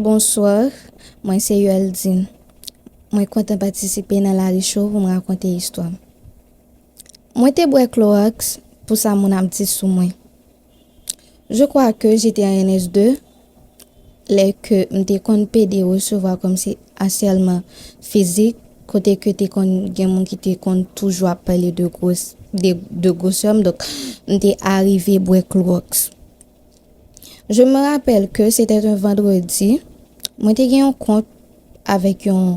Bonsoir mwen se Yoeldine mwen kontan patisipe nan lari show pou m rakonte istwa m mwen te bwè kloròks pou sa moun ap di sou mwen je crois que j'étais en NS2 lè ke m te konn pede resevwa kòm si asyèlman fizik kote ke te konn gen moun ki te konn toujou ap pale de gwosè m donk m te arive bwè kloròks. Je me rappelle que c'était un vendredi, mwen te gen yon kont avèk yon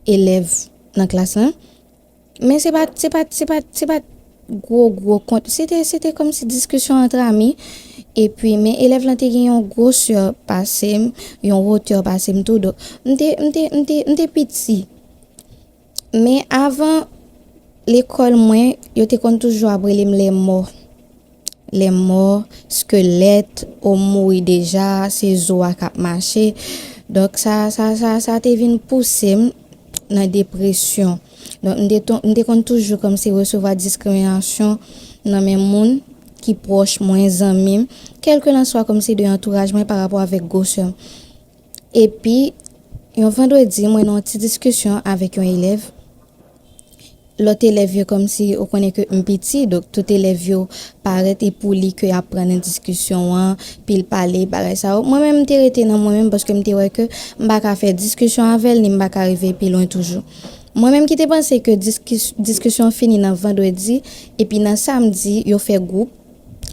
elèv nan klas lan, men se pa, se pa, se pa, se pa gwo gwo kont, se te, se te kòm si diskisyon antre ami, epi men elèv lan te gen yon gwosè pase m, yon wotè pase m tou, donk m te, m te, m te, m te piti. Men avan lekòl mwen, yo te konn toujou ap rele m lèmò. Lèmò, skelèt, o m mouri deja, se zo a k ap mache. Donk sa, sa, sa, sa te vin pouse m nan depresyon. Donk m te ton, m te konn toujou kòmsi resevwa diskriminasyon nan men moun ki pwòch mwen, zanmi m, kèlkelanswa kòmsi de antouraj mwen parapò avèk gwosè m. Epi, yon vandredi, mwen nan yon ti diskisyon avèk yon elèv. Lòt elèv yo kòmsi ou konnen ke m piti, donk tout elèv yo parèt e pou li ke y ap pran nan diskisyon an, pi l pale, bagay sa yo. Mwen menm m te rete nan mwen menm paske m te wè ke m pa ka fè diskisyon avè l ni m pa ka rive pi lwen toujou. Mwen menm ki te panse ke diskisyon fini nan vandredi, epi nan samdi yo fè gwoup.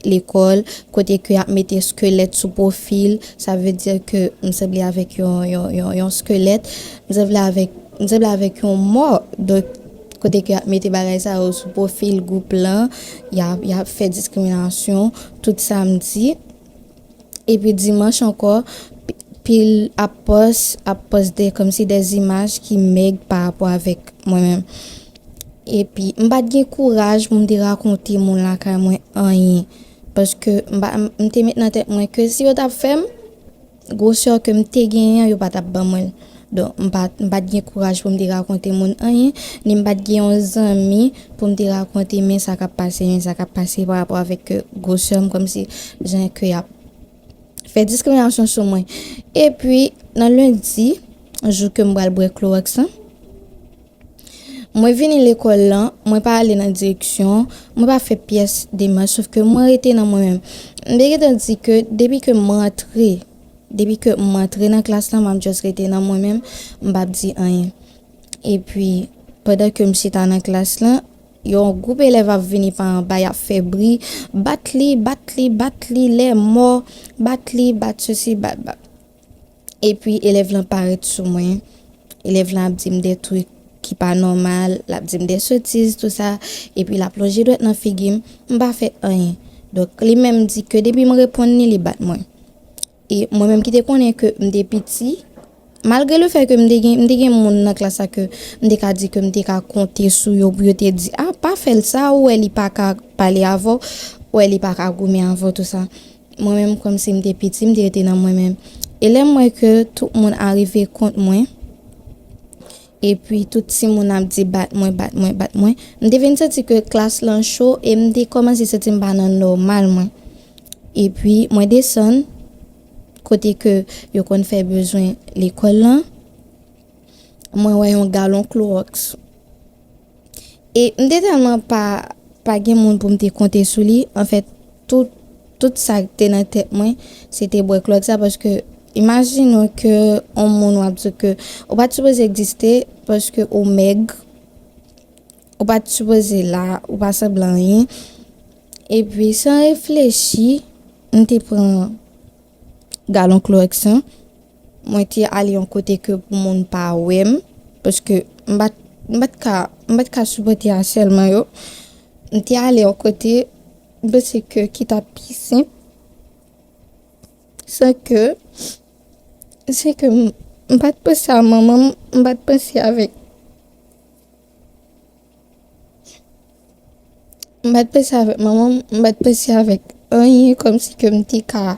lekòl kote ke yap mete skelèt sou profil sa vle di ke m sanble avèk yon skelèt m sanble avèk m sanble avèk yon mò donk kote ke yap mete bagay sa yo sou profil gwoup lan yap fè diskriminasyon tout sa m di. Epi dimanch ankò pil ap pòs ap pòs de kòmsi de zimaj ki mèg pa rapò avèk mwen menm. Epi m pat gen kouraj pou m te rakonte moun lakay mwen anyen. Paske m pa m te met nan tèt mwen ke si yo tap fè m, gwosè ke m te genyen an yo pa tap ban mwen l. Donk, m pa m pa t gen kouraj pou m te rakonte moun anyen, ni m pa t gen yon zanmi pou m te rakonte men sa k ap pase, men sa k ap pase pa rapò avèk gwo sè m, kòmsi jan ke y ap fè diskriminasyon sou mwen. Epi, nan lendi, jou ke m pral bwè kloròks lan, mwen vini lekòl lan, mwen pa ale nan direksyon, mwen pa fè pyès demach, sof ke mwen rete nan mwen menm. M te gentan di ke depi ke m rantre. Depi ke m antre nan klas la, m ap just rete nan mwen menm, m p ap di anyen. Epi, pandan ke m chita nan klas la, yon gwoup elèv ap vini pa anba, y ap fè bri, Bat li! Bat li! Bat li! Lè mò! Bat li! Bat sesi! Bat, bat. Epi, elèv lan parèt sou mwen. Elèv lan ap di m de twik ki pa nòmal, l ap di m de sotiz, tou sa. Epi, l ap lonje dwèt nan figi m. M pa fè anyen. Donk, li menm di ke depi m reponn li, li bat mwen. E mwen menm ki te konnen ke m te piti, malgre le fè ke m te gen, m te gen moun nan klas la ke m te ka di ke m te ka konte sou yo pou yo te di, a, pa fè l sa, ou wè li pa ka pale avè w, ou wè li pa ka goumen avè w tou sa. Mwen menm kòm si m te piti, m te rete nan mwen menm. E lè m wè ke tout moun arive kont mwen, Epi tout timoun ap di bat mwen, bat mwen, bat mwen. M te vin santi ke klas lan cho e m te kòmanse santi m pa nan nòmal mwen. Epi mwen desann kote ke yo konn fè bezwen lekòl lan, mwen wè yon galon kloroks. E m te tèlman pa pa gen moun pou m te konte sou li, anfèt tout tout sa k te nan tèt mwen se te bwè klòt sa paske imajine w ke on moun w ap di w ke ou pa t sipoze egziste paske ou mèg, ou pa t sipoze la, ou pa sanble anyen. Epi san reflechi m te pran. galon klorèks lan, mwen te ale yon kote ke pou moun pa wè m, paske m pa t, m pa t ka, m pa t ka sipòte asèlman yo. M te ale yon kote, m panse ke ki ta pi senp, san ke, san ke m pa t panse a manman m, m pa t panse avèk. M pa t panse avèk manman m, m pa t panse avèk anyen kòm si ke m te ka,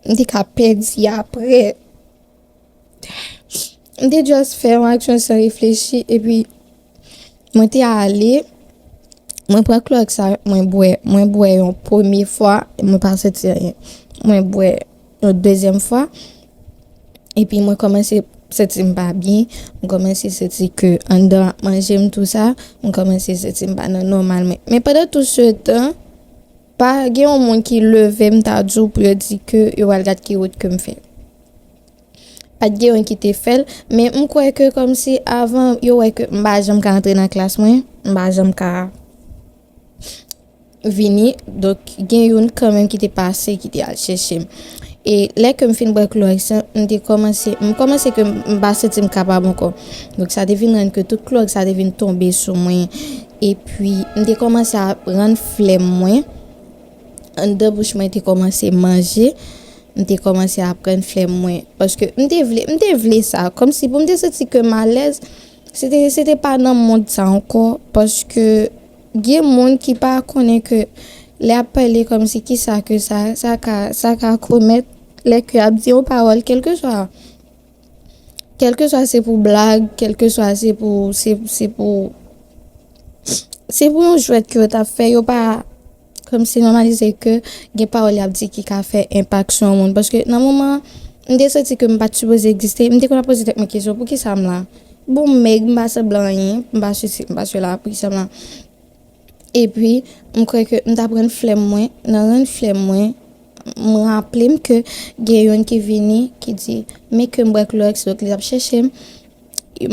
m te ka pèdi aprè. M te just fè yon aksyon san reflechi epi mwen te ale, mwen pran klòks la mwen bwè, mwen bwè yon premye fwa, mwen pa santi anyen, mwen bwè. yon dezyèm fwa epi mwen kòmanse santi m pa byen, m kòmanse santi ke anndan ap manje m tou sa, m kòmanse santi m pa nan nòmal mwen. Men pandan tout se tan, pa gen yon moun ki leve m ta di w pou yo di ke yo pral gad ki wout ke m fè. Pa t gen yon ki te fè l, men m kwè ke kòmsi avan yo wè ke m pa janm ka antre nan klas mwen, m pa janm ka. vini donk gen youn kanmenm ki te pase ki te al chèche m e lè ke m fin bwè klorèks lan m te kòmanse m kòmanse ke m pa santi m kapab ankò donk sa te vin rann ke tout klorèks sa te vin tonbe sou mwen epi m te kòmanse ap rann flèm mwen anndan bouch mwen te kòmanse manje m te kòmanse ap rann flèm mwen paske m te vle m te vle sa kòmsi pou m te santi ke m alèz se te se te pa nan mond sa ankò paske. Gen moun ki pa konnen ke lè ap pale kòmsi kisa ke sa sa ka sa ka komèt lè ke ap di yon pawòl kèlkeswa kèlkeswa se pou blag kèlkeswa se pou se se pou se pou yon jwèt ke yo tap fè yo pa kòmsi nòmalize ke gen pawòl yap di ki ka fè enpak sou yon moun paske nan moman an mte santi ke mpat sipoze egziste mte konn ap poze tèt mwen kesyon poukisa m la Bon m mèg m pa sanblan anyen m pa sesi m pa sela pou kisa m la epi m kwè ke m tap rann flèm mwen nan rann flèm mwen m raple m ke gen youn ki vini ki di men ke m bwè klorèks donk li tap chèche m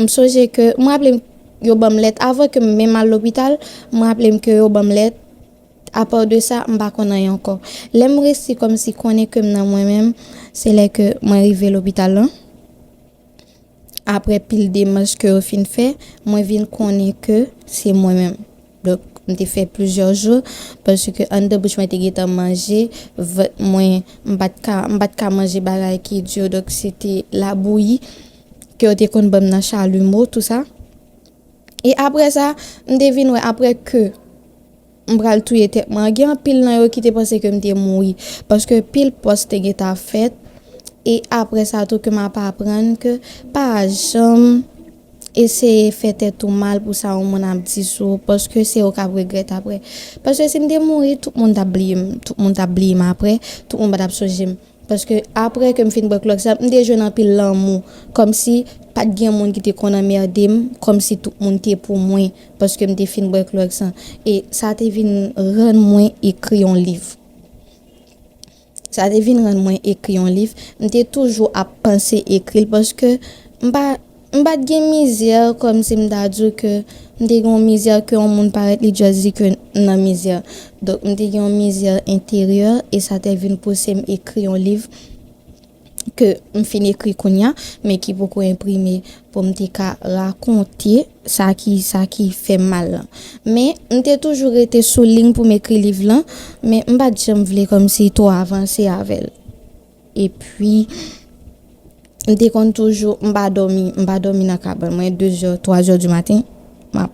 m sonje ke m raple m yo banm lèt avan ke m menm al lopital m raple m ke yo banm lèt apa de sa m pa konn anyen ankò lè m resi kòmsi konnen ke m nan mwen menm se lè ke mwen rive lopital lan. Aprè pil demach ke yo fin fè, mwen vin konnen ke se mwen menm. Donk, m te fè plizyè jou, paske anndan bouch mwen te gentan manje, vant mwen, m pa t ka, m pa t ka manje bagay ki di yo, donk se te labouyi ke yo te konn ban m nan Chalumeau, tou sa. E aprè sa, m te vin wè, aprè ke M pral touye tèt mwen. Gen anpil nan yo ki te panse ke m te mouri. Paske pil pòs te gentan fèt. E apre sa tou ke m ap aprann ke pa janm eseye fè tèt ou mal pou sa yon moun ap di sou ou. Paske se ou k ap regrèt apre. Paske si m te mouri, tout moun t ap bliye m. Tout moun t ap bliye m apre. Tout moun pa t ap sonje m. Paske aprè ke m fin bwè klòk sa, m te jwenn anpil lanmou. Kòmsi pa t gen moun ki te konn anmède m, kòmsi tout moun te pou mwen paske m te fin bwè klòk sa. E sa te vin rann mwen ekri yon liv. Sa te vin rann mwen ekri yon liv. M te toujou ap panse ekri l paske m pa. M pat gen mizè kòm si m ta di w ke m te gen yon mizè ke yon moun parèt li just di ke m nan mizè. Donk m te gen yon mizè enteryè e sa te vin pouse m ekri yon liv ke m fin ekri kounya men ki poko enprime pou m te ka rakonte sa ki sa ki fè m mal lan. Men m te toujou rete sou liy pou m ekri liv lan men m pat janm vle kòm si twò avanse avè l. Epi, m te konn toujou, m pa dòmi, m pa dòmi nan kabann mwen, dezè, twazè di maten, m ap,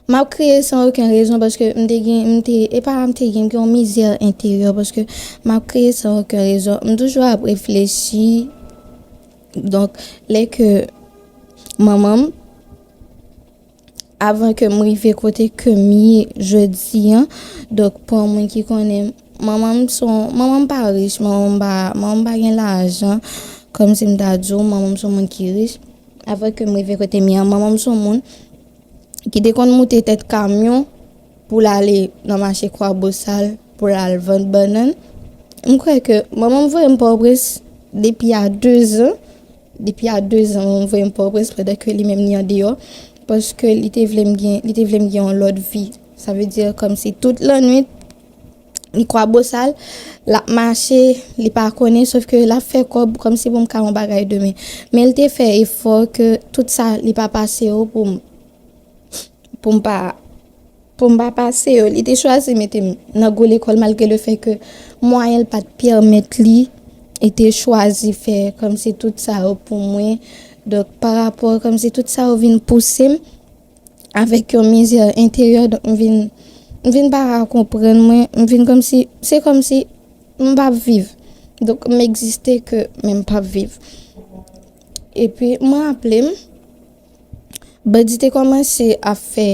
m ap kriye san oken rezon paske m te gen, m te, e pa m te gen, m gen yon mizè enteryè paske m ap kriye san oken rezon. M toujou ap reflechi, donk, lè ke manman m. Avan ke m rive kote ke m ye jodi an, donk pou yon moun ki konnen m, manman m se yon, manman m pa rich, manman m pa, manman m pa gen lajan, kòm si m ta di w manman m se yon moun ki rich. Avan ke m rive kote m ye an, manman m se yon moun ki te konn moute tèt kamyon pou l ale nan mache Kwabosal pou l al vann bannann. M kwè ke manman m voye m Pòtoprens depi a dezan. Depi a 2 zan ou voye m Pòtoprens pandan ke li menm li andeyò paske li te vle m gen li te vle m gen yon lòt vi. Sa vle di kòm si tout lannwit li kwabosal, l ap mache, li pa konnen sof ke l ap fè kòb kòm si pou m ka yon bagay demen. Men l te fè efò ke tout sa li pa pase yo pou m pou m pa. Pou m pa pase yo, li te chwazi mete m nan gwo lekòl malgre le fè ke mwayen l pa t pèmèt li. Li te chwazi fè kòmsi tout sa yo pou mwen. Donk, pa rapò kòmsi tout sa yo vin pouse m avèk yon mizè enteryè. Donk, m vin, m vin pa ka konprann mwen. M vin kòmsi, se kòmsi m pa p viv. Donk, m egziste ke men m pa p viv. Epi, m raple m. Bandi te kòmanse ap fè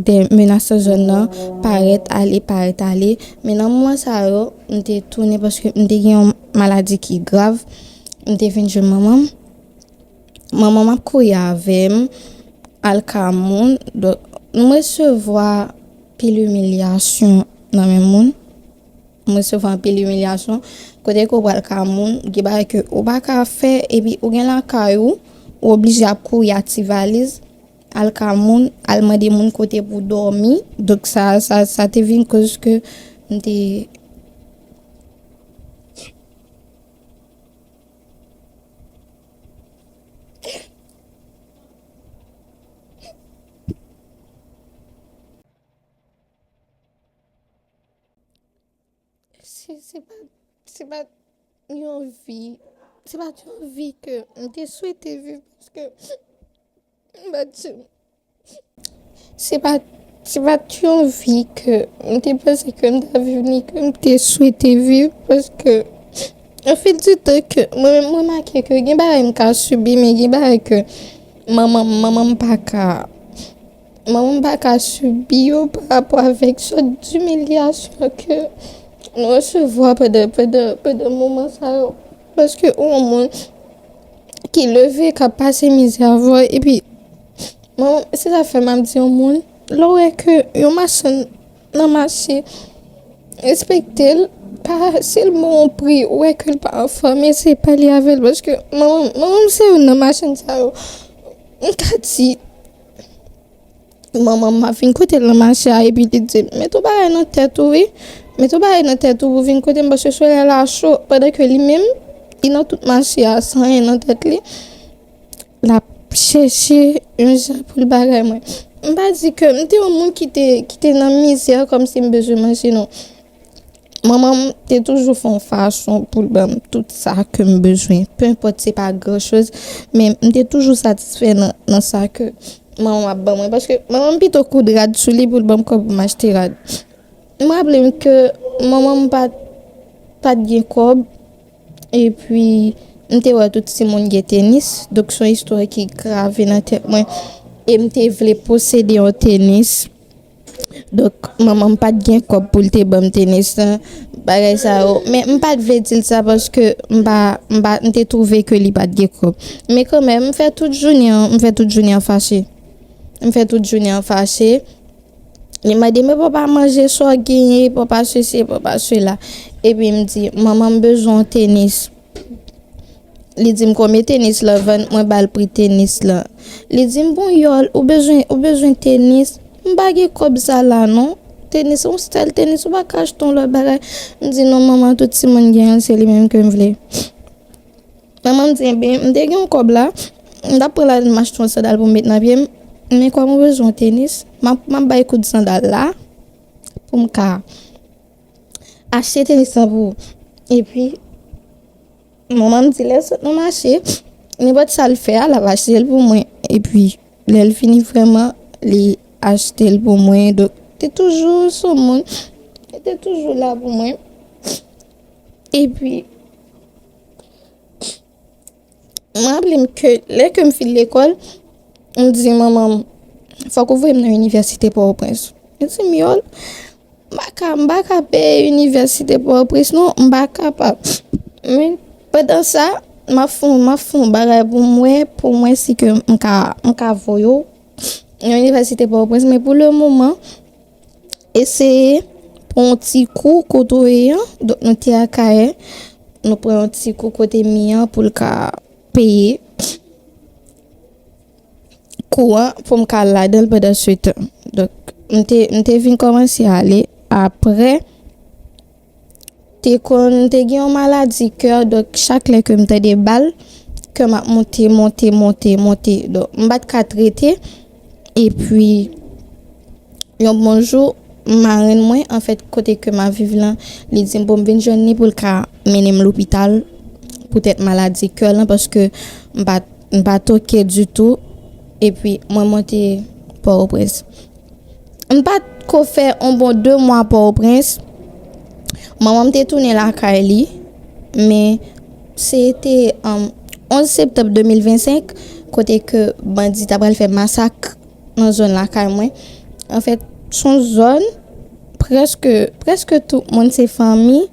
de menas nan zòn nan, parèt ale, parèt ale. Men nan moman sa yo, m te tounen paske m te gen yon maladi ki grav. M te vin jwenn manman m. Manman m ap kouri avè m al ka moun. Donk, m resevwa pil imilyasyon nan men moun. M resevwa anpil imilyasyon, kote ke w pral ka moun, gen bagay ke ou pa ka fè epi ou gen lakay ou, ou oblije ap kouri ak ti valiz, al ka moun, al mande moun kote pou w dòmi. Donk sa, sa, sa te vin koz ke m te. Se pa, se pa yon vi, se pa yon vi ke m te swete viv paske m pa di, se pa, se pa yon vi ke m te panse ke m ta viv ni ke m te swete viv paske o fil di tan ke mwen menm m remake ke gen bagay m ka sibi men gen bagay ke manman, manman m pa ka. Manman m paka sibi yo pa rapò avèk sòt dimilyasyon ke nou resevwa pandan pandan pandan moman sa yo paske ou yon moun ki leve kap pase mizè avèw epi manman se sa fè map di yon moun lè w wè ke yon machann nan mache respektel pa sil bon yon pri ou wè ke l pa anfòm eseye pale avèl paske manman m manman m se youn nan machann sa yo m ka di. Manman Mafin kote l nan mache a epi li di l, Mete w bagay nan tèt ou wi, mete w bagay nan tèt ou pou w vin kote m paske solèy la cho. Pandan ke li menm, li nan tout mache a san anyen nan tèt li, l ap chèche yon jan pou l bagay mwen. M pa di ke m te yon moun ki te nan mizè kòmsi m bezwen manje non. Manman m te toujou fè yon fason pou l ban m tout sa ke m bezwen. Pe enpòt se pa gran choz, men m te toujou satisfè nan sa ke manman m ap ban mwen. Paske manman m pito koud rad sou li pou l ban m kòb pou m achte rad. M raple m ke manman m pa t gen kòb, e pi m te wè tout timoun gen tenis. Donk son istwa ki grave nan tèt mwen. E m te vle posede yon tenis. Donk manman m pat gen kòb pou l te ban m tenis lan, bagay sa yo. Men m pat vle di l sa paske m pa, m pa, m te twouve ke li pat gen kòb. Men kanmenm m fè tout jounen an, m fè tout jounen an fache. M fè tout jounen an fache. Li mande men papa manje sa w genyen, papa sesi, papa sela. Epi m di manman m bezwen yon tenis. Li dim konbyen tenis lan vann mwen bal pri tenis lan li dim bon yòl ou bezwen ou bezwen tenis m pa gen kòb sa la non tenis se yon style tenis ou pa ka achte yon lòt bagay m di non manman tout timoun genyen se li menm kem vle manman m di enben m te gen yon kòb la m tap pran lal m achte yon sandal pou m met nan pyem men kòm ou bezwen yon tenis map bay kout sandal la pou m ka. Achte tenis lan pou ou. Epi, manman m di lè l sot nan mache, nenpòt sa l fè a, l ap achte l pou mwen. Epi, lè l fini vrèman, li achte l pou mwen. Donk, li te toujou sou moun. Li te toujou la pou mwen. Epi. M raple m ke lè ke m fin lekòl, m di manman m, fòk ou voye m nan inivèsite Pòtoprens. Li di m, Yòl, m pa ka, m pa ka peye inivèsite Pòtoprens non, m pa kapab. Men, pandan sa, m ap fè, m ap fè yon bagay pou m wè, pou m wè si ke m ka, m ka voye w nan inivèsite Pòtoprens. Men pou le moman. Eseye pran yon ti kou kote w ye an. Donk nou te Akayè. Nou pran yon ti kou kote mi an pou l ka peye kou an pou m ka al ladan l pandansetan. Donk m te vin kòmanse ale apre. Te konn te gen yon maladi kè donk chak lè ke m tande bal kè m ap monte monte monte monte donk m pat ka trete epi yon bon jou marenn mwen anfèt kote ke m ap viv lan li di m pou m vin jwenn li pou l ka mennen m lopital poutèt maladi kè lan paske m pat m pat ok ditou epi mwen monte pòtoprens. M pa t ko fè on bon de mwa Pòtoprens, manman m te tounen lakay li, men se te 11 septanm 2025 kote ke bandi ta pral fè masak nan zòn lakay mwen. Anfèt, s on zòn prèske, prèske tout moun se fanmi,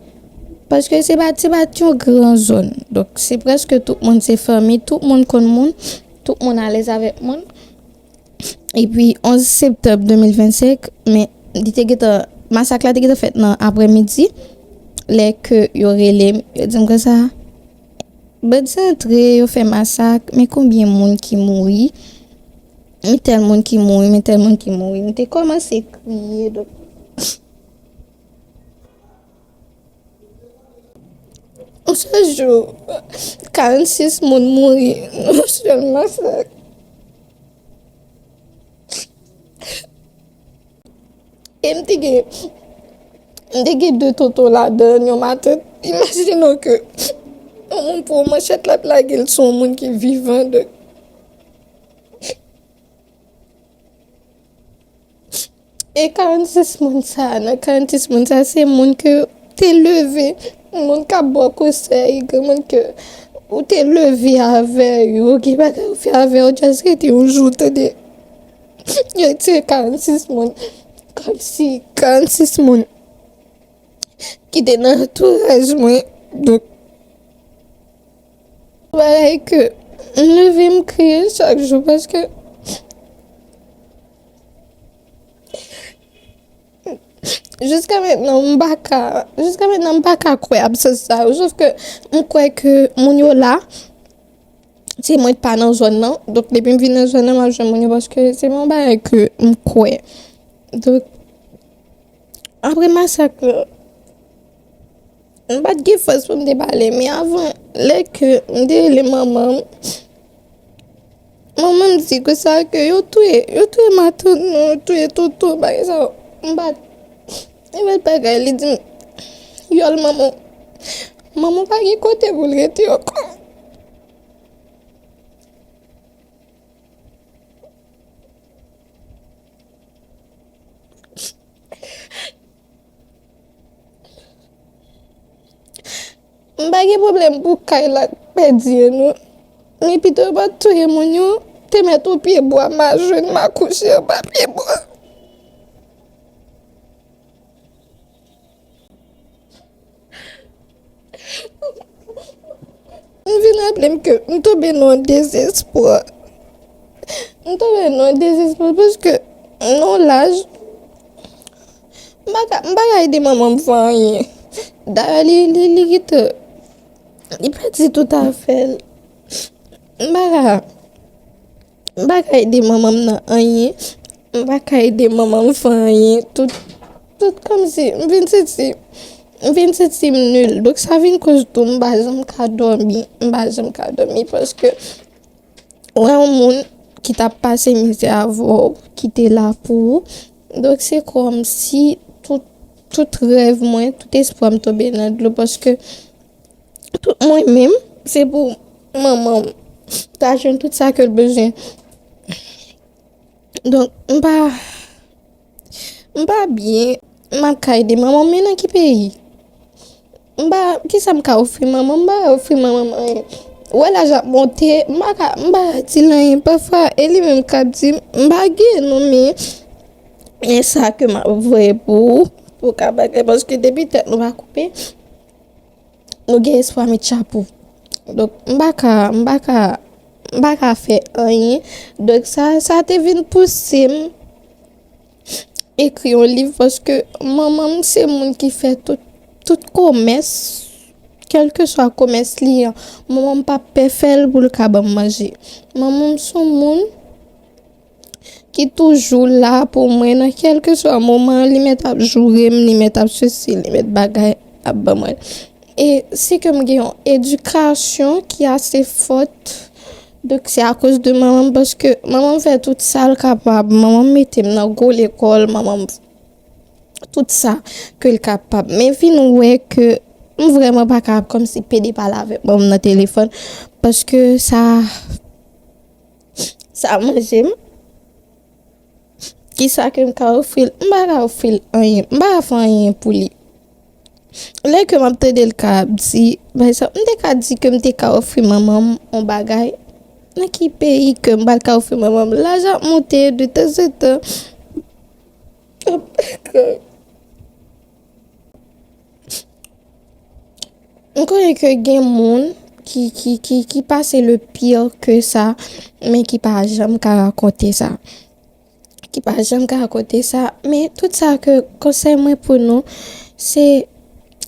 paske se pa, se pa t yon gran zòn. Donk se prèske tout moun se fanmi, tout moun konn moun, tout moun alèz avèk moun. Epi 11 septanm 2025, men li te gentan, masak la te gentan fèt nan aprè midi, lè ke yo rele m, yo di m konsa, bandi antre, yo fè masak, men konbyen moun ki mouri, men tèl moun ki mouri, men tèl moun ki mouri, m te kòmanse kriye, donk. Yon sèl jou, 46 moun mouri nan yon sèl masak. E m te gen, m te gen 2 tonton ladan l, yon matant. Imajine w ke yon moun pran yon manchèt l ap lage l sou yon moun ki vivan. E 46 moun sa, nan 46 moun sa se moun ke te leve, moun kap ba w konsèy, moun ke ou te leve avè yo, gen bagay ou fè avè yo just rete yon jou ou tande yo tiye 46 moun, kom si 46 moun ki te nan antouraj mwen, donk se bagay ke m leve m kriye chak jou paske. Jiska mentnan m pa ka, jiska mentnan m pa ka kwè absans sa yo, sof ke m kwè ke moun yo la, se mwen k pa nan zòn nan, donk depi m vin nan zòn nan m ap jwenn moun yo paske se pa yon bagay ke m kwè. Donk apre masak la. M pa t gen fòs pou m te pale, men avan lè ke m te rele manman m, manman m di ke sa ke yo touye, yo touye matant nou, yo touye tonton, bagay sa yo. M pa t, li met bagay, li di m, vyòl manman w, manman w pa gen kote pou l rete ankò. M pa gen pwoblèm pou Kayla ak Pèdye non, men pito yo pa t touye moun yo, te mèt yon pye bwa m a jwenn m a kouche anba pye bwa. M vin raple m ke m tonbe nan yon dezespwa. M tonbe nan yon dezespwa paske nan yon laj, m pa ka, m pa ka ede manman m fè anyen. Dayè li, li, li gentan, li pèdi tout afè l. M pa ka. M pa ka ede manman m nan anyen, m pa ka ede manman m fè anyen, tout, tout kòmsi m vin santi, m vin santi m nil. Donk sa vin koz tou m pa janm ka dòmi, m pa janm ka dòmi paske wè yon moun ki ta pase mizè avè w, ki te la pou ou. Donk se kòmsi tout, tout rèv mwen, tout espwa m tonbe nan dlo paske Mwen menm se pou manman m ta jwenn tout sa ke l bezwen. Donk m pa, m pa byen. M ap ka ede manman m men nan ki peyi? M pa, ki sa m ka ofri manman m? M pa ka ofri manman m anyen. Wè laj ap monte, m pa ka, m pa ka di l anyen. Pafwa e li menm k ap di m, m pa gen non men. Men sa ke m ap voye pou ou, pou w ka bagay paske depi tèt nou pa koupe. Nou gen espwa met chapo. Donk m pa ka, m pa ka, m pa ka fè anyen. Donk sa, sa te vin pouse m ekri yon liv paske manman m se moun ki fè tout, tout komès, kèlkeswa komès li an. Manman m pa pè fè l pou l ka ban m manje. Manman m son moun. ki toujou la pou mwen nan kèlkeswa moman li mèt ap joure m, li mèt ap sesi, li mèt bagay ap ban mwen. E si ke m gen yon edikasyon ki ase fòt, donk se akoz de manman m paske manman m fè tout sa l kapab, manman m mete m nan gwo lekòl, manman m tout sa ke l kapab. Men vin m wè ke m vreman pa kapab kòmsi pede pale avèk manman m nan telefòn paske sa. Sa manje m? Kisa ke m ka ofri l? M pa ka ofri l anyen. M pa ka fè anyen pou li. Lè ke m ap tande l ka ap di, pa egzanp, m te ka di ke m te ka ofri manman m yon bagay. Nan ki peyi ke m pral ka ofri manman m? Laj ap monte, de tanzantan. M konnen ke gen moun ki pase le pire ke sa, men ki pa janm ka rakonte sa. Ki pa janm ka rakonte sa, men tout sa ke konsey mwen pou nou, se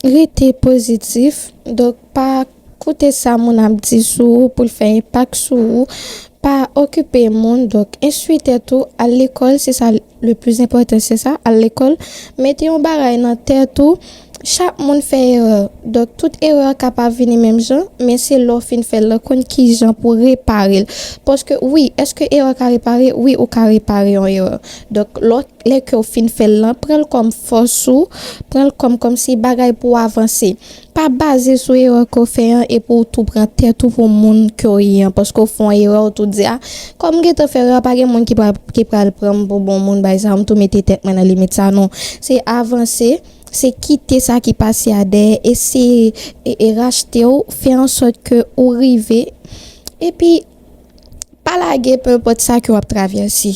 rete pozitif, donk pa Koute sa moun ap di sou ou poul fè enpak sou ou, pa okipe moun donk enstwi tèt ou, al lekòl se sa le plis enpòtan se sa, al lekòl, mete yon bagay nan tèt ou chak moun fè erè donk tout erè ka pa vini menm jan men se lè w fin fèl lan konn kijan pou reparel paske wi eske erè ka repare wi ou ka repare yon erè donk lè w lè ke w fin fèl lan pranl kòm fòs ou pranl kòm kòmsi bagay pou w avanse. Pa baze sou erè ke w fè an epi w tou pran tèt ou pou moun ke w ye an. Paske w fè yon erè w tou di, a, kòm m gentan fè erè a, pa gen moun ki pral pran m pou bon moun, bay sa, m tou mete tèt mwen nan limit sa. Non, se avanse, se kite sa ki pase a dèyè, eseye rachte w, fè ansòt ke ou rive, epi pa lage, penenpòt sa ke w ap travèse.